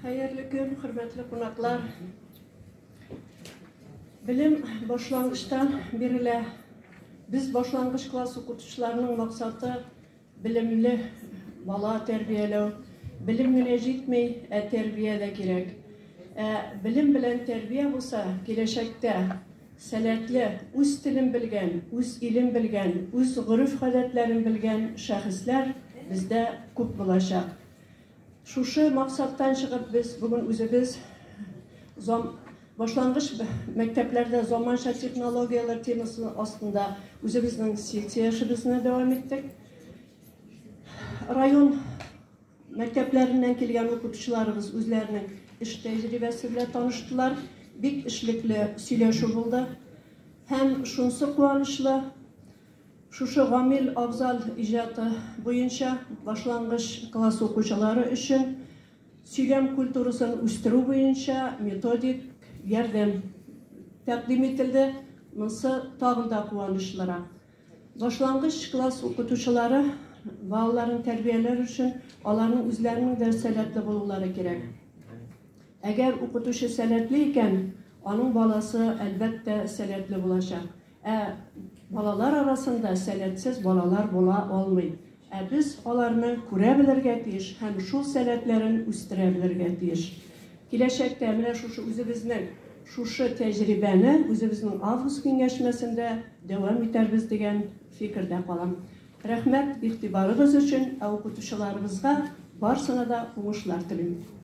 Хәерле көн, хөрмәтле кунаклар! Белем башлангычтан бирелә. Без башлангыч класс укытучыларының максаты белемле бала тәрбияләү. Белем генә җитми, ә тәрбия дә кирәк. Ә белем белән тәрбия булса, киләчәктә Сәләтле, үз телен белгән, үз илен белгән, үз гореф-гадәтләрен белгән шәхесләр бездә күп булачак. Шушы максаттан чыгып, без бүген үзебез зам башлангыч мәктәпләрдә заманча технологияләр темасы астында үзебезнең секцияшебезне дәвам иттек. Район Мәктәпләреннән килгән укытучыларыбыз үзләренең эш тәҗрибәсе белән таныштылар. Бик эшлекле сөйләшү булды. Һәм шунсы куанычлы, шушы Гамил Афзал иҗаты буенча башлангыч класс укучылары өчен сөйләм культурасын үстерү буенча методик ярдәм тәкъдим ителде. Монсы тагын да куанычлырак. Башлангыч класс укытучылары балаларын тәрбияләр өчен аларның үзләренең дә сәләтле булулары кирәк. Әгәр укытучы сәләтле икән, аның баласы, әлбәттә, сәләтле булачак. Ә балалар арасында сәләтсез балалар була алмый. Ә без аларны күрә белергә тиеш һәм шул сәләтләрен үстерә белергә тиеш. Киләчәктә менә шушы үзебезнең шушы тәҗрибәне үзебезнең август киңәшмәсендә дәвам итәрбез дигән фикердә калам. Рәхмәт игътибарыгыз өчен, ә укытучыларыбызга барсына да уңышлар телим.